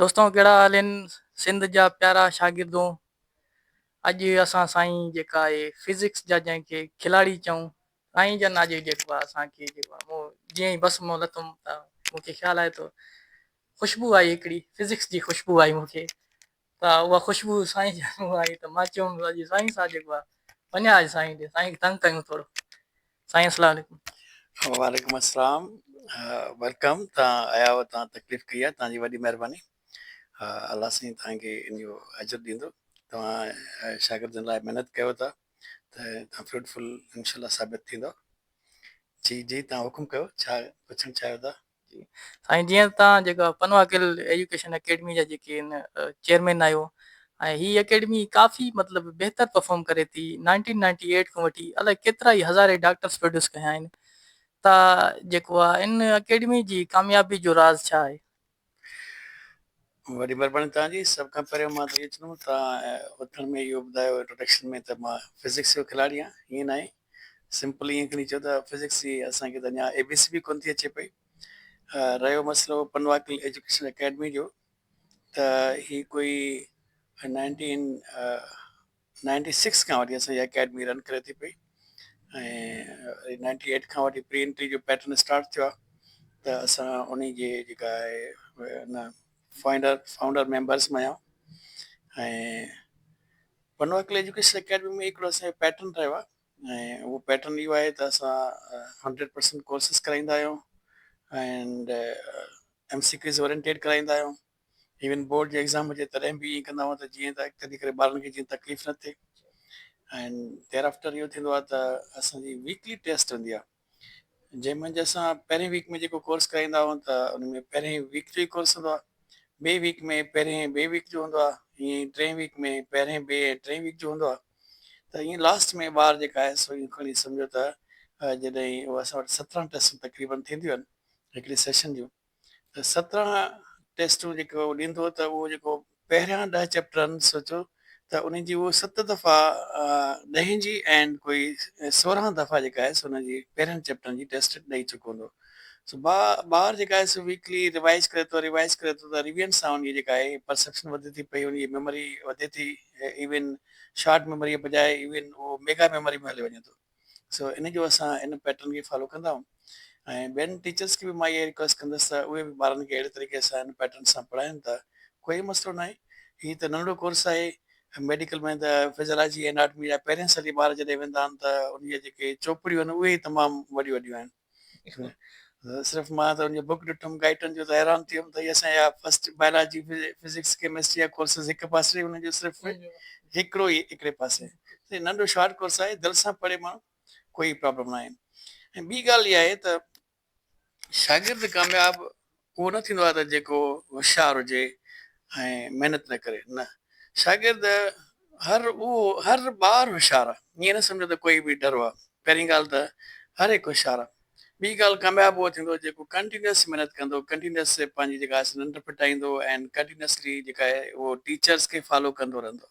دوستو ڪهڙا حال آهن سنڌ جا پيارا شاگردون اڄ اسان سائين جيڪا آهي فزڪس جا جنهن کي کلاڙي چئون سائين جن اڄ جيڪو آهي اسان کي جيڪو آهي مون جيئن ئي بس مون لتم ته مون کي خيال آيو ته خوشبو آئي هڪڙي فزڪس جي خوشبو آئي مون کي ته اها خوشبو سائين جان آئي ته مان چيم اڄ سائين سان جيڪو آهي وڃان اڄ سائين ڏي سائين کي تنگ ڪيون ٿورو سائين السلام عليڪم. وعليڪم السلام ويلڪم تان آيا هئا تان تڪليف ڪئي آهي تان جي وڏي مهرباني الله سائين تان کي ان جو اجر ڏيندو توهان شاگردن لاء محنت ڪيو ٿا ته تان فروٽفل انشاء الله ثابت ٿيندو جي جي تان حڪم ڪيو ڇا پڇڻ چاهيو ٿا جي سائين جيئن توهان جيڪا پنوا گل ايجوڪيشن اڪيڊمي جا جيڪي ان چيئرمين آهيو ۽ هي اڪيڊمي ڪافي مطلب بهتر پرفارم ڪري ٿي نائنٽين نائنٽي ايٽ کان وٺي الائي ڪيترا ئي هزارين ڊاڪٽرس پروڊيوس ڪيا آهن تا جيڪو آ ان اڪيڊمي جي ڪاميابي جو راز ڇا آهي. وڏي مھرباني توھان جي سڀ کان پھريون مان ته اھو چوندم توھان اوٿڻ ۾ اھو ٻڌايو انٽروڊڪشن ۾ ته مان فزڪس جو کلاڙي آھيان ائين ناھي سمپل ائين کڻي چئو ته فزڪس جي اسان کي ته اڃا اي بي سي به ڪونه ٿي اچي پئي. رهيو مسئلو پنواڪل ايجوڪيشن اڪيڊمي جو ته هي ڪوئي نائنٽين نائنٽي سڪس کان وٺي اسان جي اڪيڊمي رن ڪري ٿي پئي ۽ نائنٽي ايٽ کان وٺي پري انٽري جو پيٽرن اسٽارٽ ٿيو آهي ته اسان ان جي جيڪا آهي ان فائنڊر فائونڊر ميمبرس مان آهيان ۽ بنو عقل ايجوڪيشن اڪيڊمي ۾ هڪڙو اسان جو پيٽرن رهيو آهي ۽ اهو پيٽرن اهو آهي ته اسان هنڊريڊ پرسنٽ ڪورسز ڪرائيندا آهيون and M C Qs oriented ڪرائيندا آهيون ايون بورڊ جو ايگزام هجي تڏهن به ائين ڪندا آهيون ته جيئن ته اڳتي ڪري ٻارن کي جيئن تڪليف نه ٿئي اينڊ دير آفٽر اهو ٿيندو آهي ته اسان جي ويڪلي ٽيسٽ هوندي آهي جنهن منجهه اسان پهرين ويڪ ۾ جيڪو ڪورس ڪرائيندا آهيون ته ان ۾ پهرين ويڪ جو ئي ڪورس هوندو آهي ٻئي ويڪ ۾ پهرين ٻئي ويڪ جو هوندو آهي ائين ٽئين ويڪ ۾ پهرين ٻئي ۽ ٽئين ويڪ جو هوندو آهي ته ائين لاست ۾ ٻار جيڪا آهي سو ائين کڻي سمجهو ته جڏهن اسان وٽ سترهن ٽيسٽون تقريبن ٿينديون آهن هڪڙي سيشن جون ته سترهن ٽيسٽون جيڪو هو ڏيندو ته اهو جيڪو پهريان ڏهه چئپٽرن سوچو ته انهي جي اهو ست دفعا ڏهين جي اينڊ ڪوئي سورهن دفعا جيڪا آهي سو انهن جي پهرين چئپٽرن جي ٽيسٽ ڏئي چڪو هوندو سو با بار جيڪا آهي سو ويڪلي ريوائيز ڪري ٿو ريوائيز ڪري ٿو ته ريوينس سان انهي جيڪا آهي پرسيپشن وڌي ٿي پئي انهي جي ميموري وڌي ٿي ايون شارٽ ميموري بجاء ايون اهو ميگا ميموري ۾ هليو وڃي ٿو سو ان جو اسان ان پيٽرن کي فالو ڪندا آهيون ۽ ٻين ٽيچرس کي به مان اها ئي رڪويسٽ ڪندس ته اهي به ٻارن کي اهڙي طريقي سان ان پيٽرن سان پڙهائين ته ڪوئي مسئلو ناهي. هي ته ننڍڙو ڪورس آهي ميڊيڪل ۾ ته فزيالاجي ۽ اناٽمي جا پهرين سال جي ٻار جڏهن ويندا آهن ته انهي جا جيڪي چوپڙيون آهن اهي ئي تمام وڏيون وڏيون آهن. صرف مان ته ان جو بڪ ڏٺم گائٽن جو ته حيران ٿي ويم ته هي اسان جا فسٽ بائلاجي فزڪس ڪيمسٽري جا ڪورسز هڪ پاسي ان جو صرف هڪڙو ئي هڪڙي پاسي هي ننڍو شارٽ ڪورس آهي دل سان پڙهي ماڻهو ڪوئي پرابلم ناهي ۽ ٻي ڳالهه اها آهي ته شاگرد ڪامياب اهو نه ٿيندو آهي ته جيڪو هوشيار هجي ۽ محنت نه ڪري، نه، شاگرد هر اهو هر ٻار هوشيار آهي، ائين نه سمجهو ته ڪوئي به ڍرو آهي، پهرين ڳالهه ته هر هڪ هوشيار آهي، ٻي ڳالهه ڪامياب اهو ٿيندو جيڪو ڪنٽينيوس محنت ڪندو، ڪنٽينيوس پنهنجي جيڪا آهي سا ننڊ ڦٽائيندو ۽ ڪنٽينيوسلي جيڪا آهي اهو ٽيچرس کي فالو ڪندو رهندو.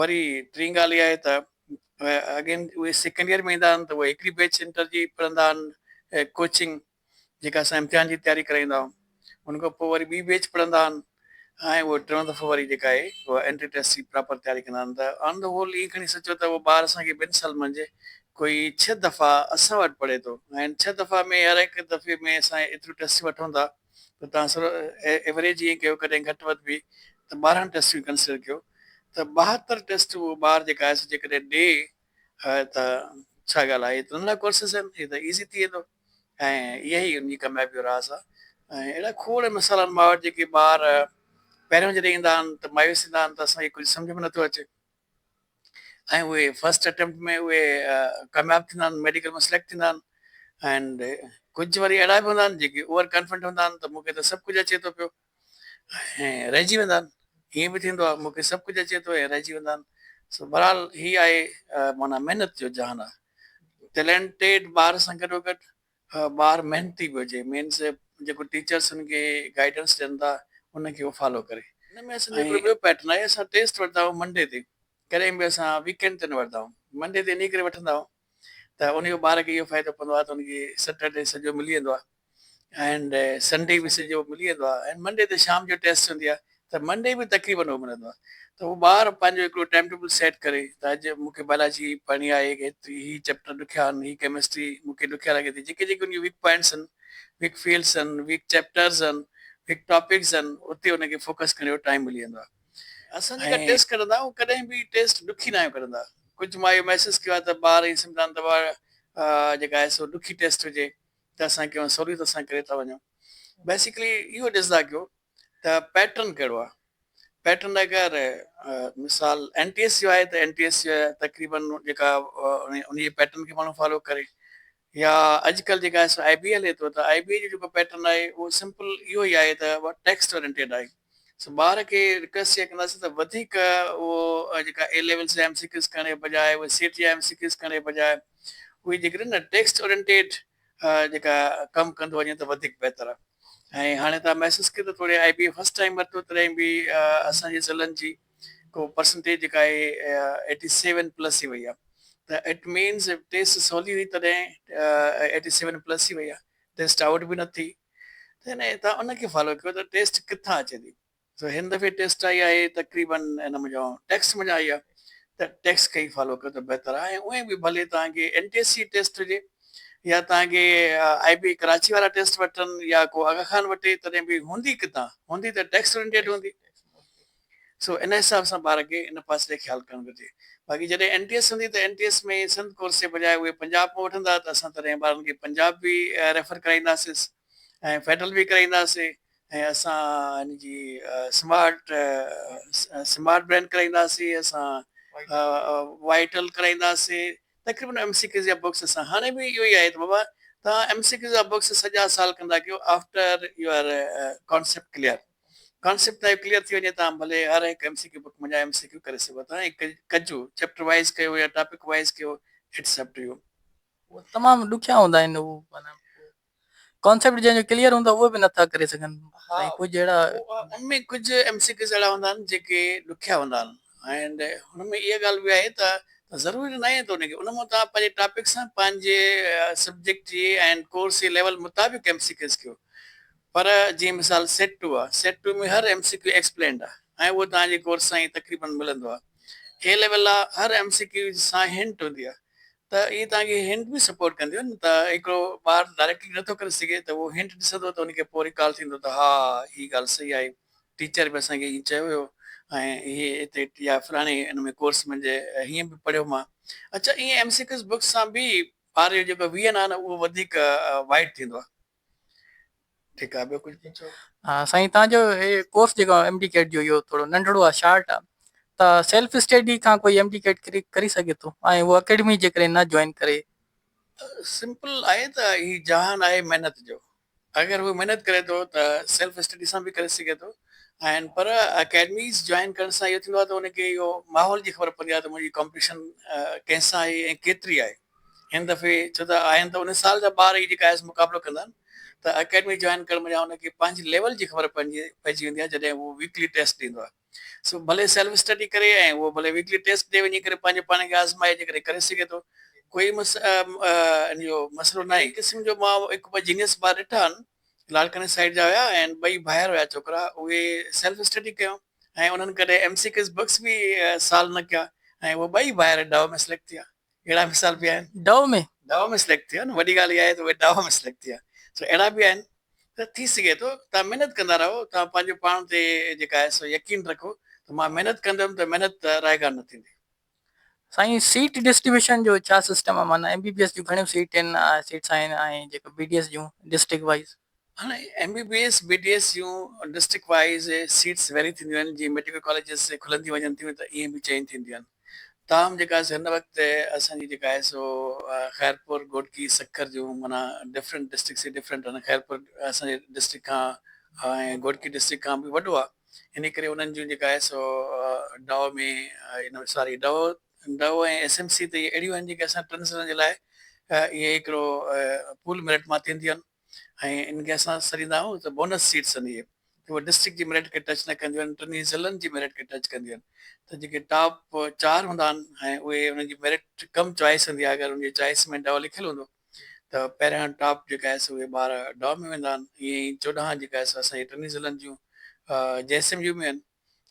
وري ٽين ڳالهه اها آهي ته اگين اهي سيڪنڊ ايئر ۾ ايندا آهن ته اهي هڪڙي بيچ انٽر جي پڙهندا آهن ڪوچنگ جيڪا اسان امتحان جي تياري ڪرائيندا آهيون ان کان پوء وري ٻي بيچ پڙهندا آهن ۽ اهو ٽيون دفعو وري جيڪا آهي اهو انٽري ٽيسٽ جي پراپر تياري ڪندا آهن ته آن دي هول ايئن کڻي سچو ته اهو ٻار اسان کي ٻن سال منجهه ڪوئي ڇهه دفعا اسان وٽ پڙهي ٿو ۽ ڇهه دفعا ۾ هر هڪ دفعي ۾ اسان ايتريون ٽيسٽ وٺون ٿا ته توهان صرف ايوريج ائين ڪيو ڪڏهن گهٽ وڌ به ته ٻارهن ٽيسٽون ڪنسڊر ڪيو ته ٻاهتر ٽيسٽ اهو ٻار جيڪا آء ايس جيڪڏهن ڏي ها ته ڇا ڳالهه آهي اترن لاء ڪورسز آهن هي ته ايزي ٿي ويندو ۽ اها ئي ان جي ڪاميابي جو راز آهي ۽ اهڙا کوڙ مثال آهن ماء وٽ جيڪي ٻار پهريون جڏهن ايندا آهن ته مايوس ٿيندا آهن ته اسان کي ڪجهه سمجهه ۾ نٿو اچي. ۽ اهي فرسٽ اٽيمپٽ ۾ اهي ڪامياب ٿيندا آهن ميڊيڪل ۾ سليڪٽ ٿيندا آهن اينڊ ڪجهه وري اهڙا به هوندا آهن جيڪي اوور ڪانفيڊنٽ هوندا آهن ته مون کي ته سڀ ڪجهه اچي ٿو پيو ۽ رهجي ويندا آهن ائين به ٿيندو آهي مون کي سڀ ڪجهه اچي ٿو ۽ رهجي ويندا آهن سو بهرحال هي آهي معنيٰ محنت جو جهان آهي ٽيلينٽيڊ ٻار سان گڏوگڏ ٻار محنتي به هجي مينس جيڪو ٽيچرس هن کي گائيڊنس ڏين ٿا ان کي هو فالو ڪري ان ۾ اسان جو هڪڙو ٻيو پيٽرن آهي اسان ٽيسٽ ورتا آهيون منڊي تي ڪڏهن به اسان ويڪينڊ تي نه ورتا آهيون منڊي تي انهي ڪري وٺندا آهيون ته ان جو ٻار کي اهو فائدو پوندو آهي ته ان کي سيٽرڊي سڄو ملي ويندو آهي اينڊ سنڊي به سڄو ملي ويندو آهي اينڊ منڊي تي شام جو ٽيسٽ هوندي آهي ته منڊي به تقريبن اهو ملندو آهي ته هو ٻار پنهنجو هڪڙو ٽائيم ٽيبل سيٽ ڪري ته اڄ مون کي بايولاجي پڙهڻي آهي ايتري هي چيپٽر ڏکيا آهن هي ڪيمسٽري مون کي ڏکيا لڳي ٿي جيڪي جيڪي ان جون ويڪ پوائنٽس آهن ويڪ فيلڊس آهن ويڪ چيپٽرز آهن ويڪ ٽاپڪس آهن اتي ان کي فوڪس ڪرڻ جو ٽائيم ملي ويندو آهي اسان جيڪا ٽيسٽ ڪڍندا آهيون ڪڏهن به ٽيسٽ ڏکي ناهيون ڪڍندا ڪجهه مان اهو محسوس ڪيو آهي ته ٻار ائين سمجهندا آهن ته واء جيڪا آهي سو ڏکي ٽيسٽ هجي ته اسان ڪيون سهوليت سان ڪري ٿا وڃون بيسڪلي اهو ڏسندا ڪيو ته پيٽرن ڪهڙو آهي؟ پيٽرن اگر مثال اين ٽي ايس يو آهي ته اين ٽي ايس يو تقريبن جيڪا ان جي پيٽرن کي ماڻهو فالو ڪري يا اڄڪلهه جيڪا آهي سو آئي بي هلي ٿو ته آئي بي جو جيڪو پيٽرن آهي اهو سمپل اهو ئي آهي ته ٽيڪسٽ اورينٽيڊ آهي سو ٻار کي رڪويسٽ اها ڪنداسين ته وڌيڪ اهو جيڪا اي ليول جي ايم سي ڪيوز ڪرڻ جي بجاء اهي سيٽ جا ايم سي ڪيوز ڪرڻ جي بجاء اهي جيڪڏهن ٽيڪسٽ اورينٽيڊ جيڪا ڪم ڪندو وڃي ته وڌيڪ بهتر آ ۽ هاڻي تان محسوس ڪيو ته توڙي I B A first time ورتو تڏهن به اسان جي ضلعن جي ڪو پرسنٽيج جيڪا آهي ايٽي سيون پلس ئي وئي آ ته اٽ مينز ٽيسٽ سولي هئي تڏهن ايٽي سيون پلس ئي وئي آ ٽيسٽ آئوٽ به نه ٿي ته هن تان ان کي فالو ڪيو ته ٽيسٽ ڪٿان اچي ٿي سو هن دفعي ٽيسٽ آئي آهي تقريباً ان منجهان ٽيڪسٽ منجهان آئي آهي ته ٽيڪسٽ کي ئي فالو ڪيو ته بهتر آهي ۽ اونئين به ڀلي توهان کي N T S C test هجي يا توهان کي آئي بي ڪراچي وارا ٽيسٽ وٺن يا ڪو آغا خان وٺي تڏهن به هوندي ڪتان هوندي ته ٽيڪسٽ اورينٽيڊ هوندي سو ان حساب سان ٻار کي ان پاسي تي خيال ڪرڻ گهرجي باقي جڏهن اين ٽي ايس هوندي ته N T S ۾ Sindh course جي بجاء اهي پنجاب مان وٺندا ته اسان تڏهن ٻارن کي پنجاب به ريفر ڪرائينداسيس ۽ فيڊرل به ڪرائينداسي ۽ اسان ان جي سمارٽ سمارٽ برينڊ ڪرائينداسين اسان وائيٽل ڪرائينداسين تقريبن ايم سي ڪيزيا بڪس اسان هاڻي به اهو ئي آهي ته بابا توهان ايم سي ڪيزيا بڪس سجا سال ڪندا ڪيو after your concept clear concept تهايو ڪليئر ٿي وڃي تان ڀلي هر هڪ ايم سي ڪيو بڪ منجهان ايم سي ڪيو ڪري سگهو ٿا ۽ ڪجو چيپٽر وائيز ڪيو يا ٽاپڪ وائيز ڪيو اٽس اپ ٽو يو. اهي تمام ڏکيا هوندا آهن. ڪانسيپٽ جنهن جو ڪليئر هوندو اهو به نٿا ڪري سگهن ۽ ڪجهه اهڙا ان ۾ ڪجهه ايم سي ڪيوز اهڙا هوندا آهن جيڪي ڏکيا هوندا آهن ۽ هن ۾ اها ڳالهه به آهي ته ضروري ناهي ته ان کي ان مان توهان پنهنجي ٽاپڪ سان پنهنجي سبجيڪٽ جي ۽ ڪورس جي ليول مطابق ايم سي ڪيوز ڪيو پر جيئن مثال سيٽ ٽو آهي سيٽ ٽو ۾ هر ايم سي ڪيو ايڪسپلينڊ آهي ۽ اهو توهان جي ڪورس سان ئي تقريبن ملندو آهي اي ليول لا هر ايم سي ڪيوز سان هنٽ هوندي آهي ته اهي توهان کي هنٽ به سپورٽ ڪنديون نه ته هڪڙو ٻار ڊائريڪٽلي نٿو ڪري سگهي ته اهو هنٽ ڏسندو ته ان کي پوء ريڪال ٿيندو ته ها هي ڳالهه صحيح آهي ٽيچر به اسان کي ائين چيو هيو ۽ هي هتي يا فلاڻي ان ۾ ڪورس منهنجي هيئن به پڙهيو مان اڇا ائين ايم سي ڪيوز بڪس سان به ٻار جو جيڪو ويهن آهي نه اهو وڌيڪ وائڊ ٿيندو آهي ٺيڪ آ ٻيو ڪجھ پڇو. ها سائين تان جو هي ڪورس جيڪو ايم ڊي ڪيٽ جو اهو ٿورو ننڍڙو آ شارٽ آ ته سيلف اسٽيڊي کان ڪوئي ايم ڊي ڪيٽ ڪري ڪري سگهي ٿو ۽ هو اڪيڊمي جيڪڏهن نه جوائن ڪري سمپل آهي ته هي جهان آهي محنت جو اگر هو محنت ڪري ٿو ته سيلف اسٽيڊي سان به ڪري سگهي ٿو ۽ پر اڪيڊميز جوائن ڪرڻ سان اهو ٿيندو آ ته ان کي اهو ماحول جي خبر پوندي آ ته منهنجي ڪامپيٽيشن ڪنهن سان آهي ۽ ڪيتري آهي هن دفعي ڇو ته آهن ته ان سال جا ٻار ئي جيڪا آيس مقابلو ڪندا آهن ته اڪيڊمي جوائن ڪرڻ بجاء ان کي پنهنجي ليول جي خبر پئجي ويندي آهي جڏهن هو ويڪلي ٽيسٽ ڏيندو آهي سو ڀلي سيلف اسٽڊي ڪري ۽ هو ڀلي ويڪلي ٽيسٽ ڏي وڃي ڪري پنهنجي پاڻ کي آزمائي جيڪڏهن ڪري سگهي ٿو ڪوئي مس ان جو مسئلو ناهي هڪ قسم جو مان هڪ ٻه جينيس ٻار ڏٺا آهن لاڙڪاڻي سائيڊ جا هيا ۽ ٻئي ڀائر هيا ڇوڪرا اهي سيلف اسٽڊي ڪيون ۽ انهن ڪڏهن ايم سي ڪيز بڪس به سال نه ڪيا ۽ اهي ٻئي ڀائر ڊاء ۾ سليڪٽ ٿيا. اهڙا مثال به آهن. ڊاء ۾؟ ڊاء ۾ سليڪٽ ٿيا نه وڏي ڳالهه اها آهي ته اهي ڊاء ۾ سليڪٽ ٿيا سو اهڙا به آهن ته ٿي سگهي ٿو توهان محنت ڪندا رهو توهان پنهنجو پاڻ تي جيڪا آهي سو يقين رکو ته مان محنت ڪندم ته محنت رائگان نه ٿيندي. سائين سيٽ ڊسٽريبيوشن جو ڇا سسٽم آ معنيٰ ايم بي بي ايس جون گهڻيون سيٽن سيٽس آهن ۽ جيڪو بي ڊي ايس جون ڊسٽرڪٽ وائيز. هاڻي M B B S B D S جون ڊسٽرڪٽ وائيز سيٽس ويري ٿينديون آهن جيئن ميڊيڪل ڪاليجز کلنديون وڃن ٿيون ته ايئن به چينج ٿينديون آهن تاهم جيڪا آهي سو هن وقت اسان جي جيڪا آهي سو خيرپور گهوٽڪي سکر جون معنيٰ ڊفرنٽ ڊسٽرڪٽس ڊفرنٽ آهن خيرپور اسان جي ڊسٽرڪٽ کان ۽ گهوٽڪي ڊسٽرڪٽ کان به وڏو آهي انهيء ڪري انهن جون جيڪا آهي سو ڊو ۾ ان ساري ڊو ڊو ۽ ايس ايم سي ته اهي اهڙيون آهن جيڪي اسان ٽرنسجنڊر جي لاء اهي هڪڙو پول ميرٽ مان ٿينديون آهن ۽ ان کي اسان سڏيندا آهيون ته بونس سيٽس آهن اهي ته اهي ڊسٽرڪٽ جي ميرٽ کي ٽچ نه ڪنديون آهن ٽنهي ضلعن جي ميرٽ کي ٽچ ڪنديون آهن ته جيڪي ٽاپ چار هوندا آهن ۽ اهي انهن جي ميرٽ ڪم چوائس هوندي آهي اگر انهن جي چوائس ۾ ڊو لکيل هوندو ته پهريان ٽاپ جيڪا آهي سو اهي ٻار ڊاء ۾ ويندا آهن ائين ئي چوڏهن جيڪا آهي سو اسان جي ٽنهي ضلعن جون جي ايس ايم يو ۾ آهن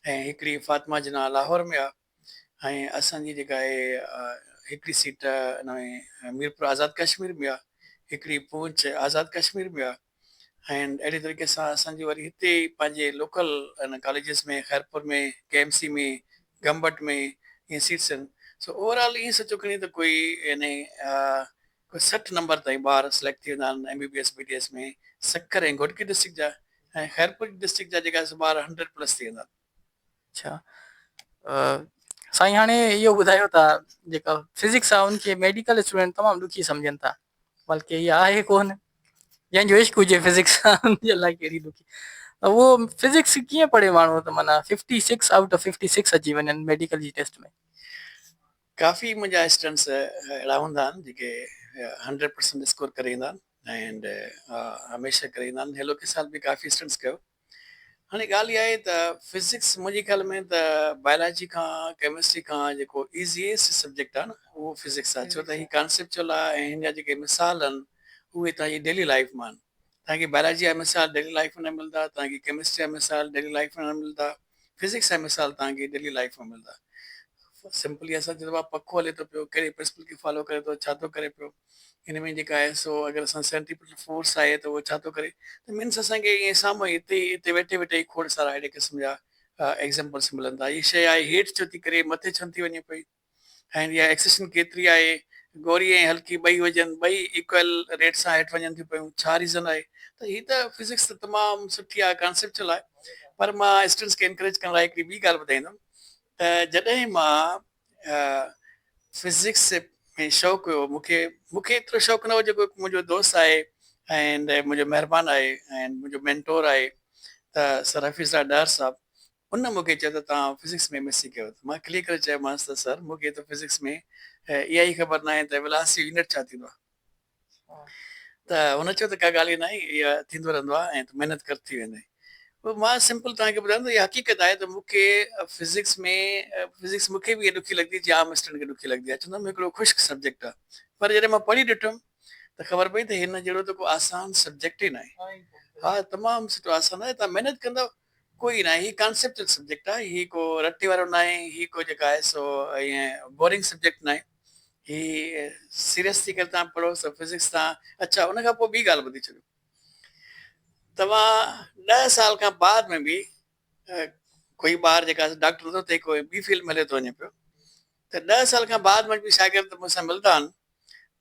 ۽ هڪڙي فاطمه جناح لاهور ۾ آهي ۽ اسان جي جيڪا آهي هڪڙي سيٽ ان ۾ ميرپور آزاد ڪشمير ۾ آهي هڪڙي پونڇ آزاد ڪشمير ۾ آهي. ۽ اهڙي طريقي سان اسان جي وري هتي پنهنجي لوڪل ان colleges ۾ Khairpur ۾ K M C ۾ Gambat ۾ ائين سيٽس آهن سو اوور آل ائين سچو کڻي ته ڪوئي يعني ڪوئي سٺ نمبر تائين ٻار سليڪٽ ٿي ويندا آهن M B B S B D S ۾ Sukkur ۽ Ghotki district جا ۽ خيرپور ڊسٽرڪٽ جا جيڪا سو ٻار هنڊريڊ پلس ٿي ويندا آهن. اڇا سائين هاڻي اهو ٻڌايو ته جيڪا فزڪس آهي ان کي ميڊيڪل اسٽوڊنٽ تمام ڏکي سمجهن ٿا بلڪه هي آهي ڪون جنهن جو عشق هجي فزڪس ان جي لاء ڪهڙي ڏکي اهو فزڪس ڪيئن پڙهي ماڻهو ته مانا fifty six out of fifty six اچي وڃن ميڊيڪل جي ٽيسٽ ۾ ڪافي منهنجا اسٽوڊنٽس اهڙا هوندا آهن جيڪي هنڊريڊ پرسنٽ اسڪور ڪري ايندا آهن ۽ هميشه ڪري ايندا آهن هيلو ڪي سال به ڪافي اسٽوڊنٽس ڪيو هاڻي ڳالهه اها آهي ته فزڪس منهنجي خيال ۾ ته بائلاجي کان ڪيمسٽري کان جيڪو ايزيئسٽ سبجيڪٽ آهي نه اهو فزڪس آهي ڇو ته هي ڪانسيپچل آهي ۽ هن جا جيڪي مثال آهن اهي توهان جي ڊيلي لائيف مان آهن توهان کي بائلاجي جا مثال ڊيلي لائيف مان نه ملندا توهان کي ڪيمسٽري جا مثال ڊيلي لائيف مان نه ملندا فزڪس جا مثال توهان کي ڊيلي لائيف ۾ ملدا. فار سمپلي اسان چئون ٿا ڀاء پکو هلي ٿو پيو ڪهڙي پرنسپل کي فالو ڪري ٿو ڇا ٿو ڪري پيو هن ۾ جيڪا آهي سو اگر اسان سينٽريپيٽل فورس آهي ته اهو ڇا ٿو ڪري ته مينس اسان کي ائين سامهون هتي هتي ويٺي ويٺي ئي کوڙ سارا اهڙي قسم جا ايگزامپلس ملن ٿا هي شيء آهي هيٺ ڇو ٿي ڪري مٿي ڇو نٿي وڃي پئي. ۽ اها ايڪسيشن ڪيتري آهي؟ گوري ۽ هلڪي ٻئي هجن، ٻئي ايڪوئل ريٽ سان هيٺ وڃن ٿيون پيون، ڇا ريزن آهي؟ ته هي ته فزڪس ته تمام سٺي آهي، ڪانسيپچل آهي، پر مان اسٽوڊنٽس کي انڪريج ڪرڻ لاء هڪڙي ٻي ڳالهه ٻڌائيندم ته جڏهن مان فزڪس ۾ شوق هيو، مون کي مون کي ايترو شوق نه هو جيڪو هڪ منهنجو دوست آهي ۽ منهنجو مهربان آهي ۽ منهنجو مينٽور آهي ته سر حفيظ الله ڏاهر صاحب، هن مون کي چيو ته توهان فزڪس ۾ ايم ايس سي ڪيو اٿو. مان کلي ڪري چيومانس ته سر مون کي ته فزڪس ۾ اها ئي خبر ناهي ته ويلاسٽي يونٽ ڇا ٿيندو آهي. ته هن چيو ته ڪا ڳالهه ئي ناهي اها ٿيندو رهندو آهي ۽ تون محنت ڪر ٿي ويندئي. پوء مان سمپل توهان کي ٻڌايم ته اها حقيقت آهي ته مون کي فزڪس ۾ فزڪس مون کي به ايئن ڏکي لڳندي جيئن عام اسٽوڊنٽ کي ڏکي لڳندي آهي. چوندو آهي هڪڙو خشڪ سبجيڪٽ آهي. پر جڏهن مان پڙهي ڏٺم ته خبر پئي ته هن جهڙو ته ڪو آسان سبجيڪٽ ئي ناهي. ها تمام سٺو آسان آهي توهان محنت ڪندؤ ڪوئي ناهي هي ڪانسيپچل سبجيڪٽ آهي هي ڪو رٽي وارو ناهي هي ڪو جيڪا آهي سو ائين بورنگ سبجيڪٽ ناهي هي سيريس ٿي ڪري تان پڙهو سو فزڪس تان اڇا ان کان پوء ٻي ڳالهه ٻڌي ڇڏيو توهان ڏهه سال کان بعد ۾ به ڪوئي ٻار جيڪا ڊاڪٽر نٿو ٿئي ڪوئي ٻي فيلڊ ۾ هليو ٿو وڃي پيو ته ڏهه سال کان بعد ۾ به شاگرد مون سان ملدا آهن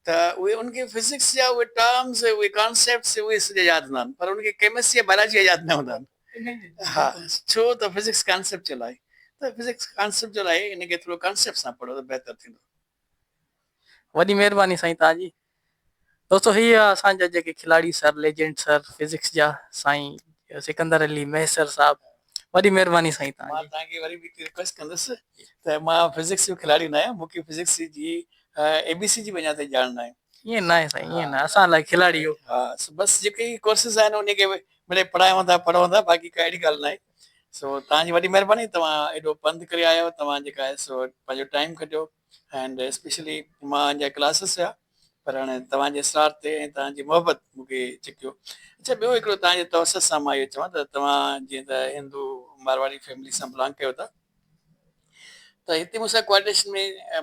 ته اهي ان کي فزڪس جا اهي ٽرمز اهي ڪانسيپٽس اهي سڄا ياد هوندا آهن پر ان کي ڪيمسٽري يا بائلاجي جا ياد نه هوندا آهن ها ڇو ته فزڪس ڪانسيپچل آهي ته فزڪس ڪانسيپچل آهي ان کي ٿورو ڪانسيپٽ سان پڙهو ته بهتر ٿيندو. وڏي مهرباني سائين توهان جي. دوستو هي هئا اسان جا جيڪي کلاڙي سر ليجنڊ سر فزڪس جا سائين سڪندر علي مهيسر صاحب وڏي مھرباني سائين توھان جي. مان توھان کي وري به ھڪ رڪويسٽ ڪندس ته مان فزڪس جو کلاڙي نه آھيان مون کي فزڪس جي اي بي سي جي بنياد تي ڄاڻ ناھي. ائين ناھي سائين ائين ناھي اسان لاء کلاڙي اھو. ھا بس جيڪي ھي ڪورسز آھن انھي کي مڙئي پڙھايون ٿا پڙھون ٿا باقي ڪا اھڙي ڳالھ ناھي سو توھان جي وڏي مھرباني توھان ايڏو پنڌ ڪري آيا آھيو توھان جيڪا آھي سو پنھنجو ٽائيم ڪڍيو اينڊ اسپيشلي مانجا ڪلاسز هيا پر هاڻي توهان جي اسرار تي ۽ توهان جي محبت مون کي ڇڪيو. اڇا ٻيو هڪڙو توهان جي توسط سان مان اهو چوان ته توهان جيئن ته هندو مارواڙي فيملي سان بلانگ ڪيو ٿا ته هتي مون سان ڪوارڊينيشن ۾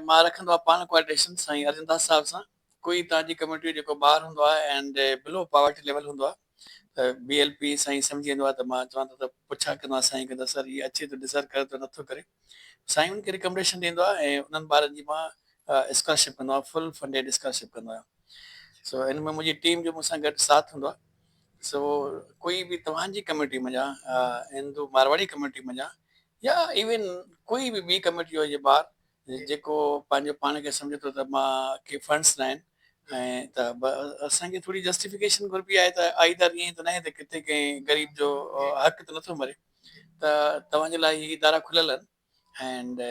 مان رکندو آهيان پاڻ ڪوارڊينيشن سائين ارجن داس صاحب سان ڪوئي توهان جي ڪميونٽي جو جيڪو ٻار هوندو آهي اينڊ بلو پاورٽي ليول هوندو آهي ته بي ايل پي سائين سمجهي ويندو آهي ته مان چوان ٿو ته پڇا ڪندو آهيان سائين کي ته سر هي اچي ٿو ڊزرو ڪري ٿو نٿو ڪري سائين ان کي رڪمنڊيشن ڏيندو آهي ۽ انهن ٻارن جي مان اسڪالرشپ ڪندو آهيان فل فنڊيڊ اسڪالرشپ ڪندو آهيان سو ان ۾ منهنجي ٽيم جو مون سان گڏ ساٿ هوندو آهي سو ڪوئي به توهان جي ڪميونٽي منجهان هندو مارواڙي ڪميونٽي منجهان يا ايون ڪوئي به ٻي ڪميونٽي جو هجي ٻار جيڪو پنهنجو پاڻ کي سمجهي ٿو ته مان کي فنڊس ناهن ۽ ته اسان کي ٿوري جسٽيفڪيشن گهربي آهي ته آئي دار ائين ته ناهي ته ڪٿي ڪنهن غريب جو حق ته نٿو مري ته توهان جي لاء هي ادارا کليل آهن ائنڊ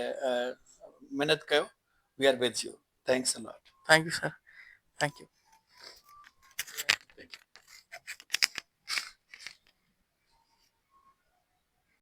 محنت ڪيو we are with you thanks a lot. Thank you sir thank U.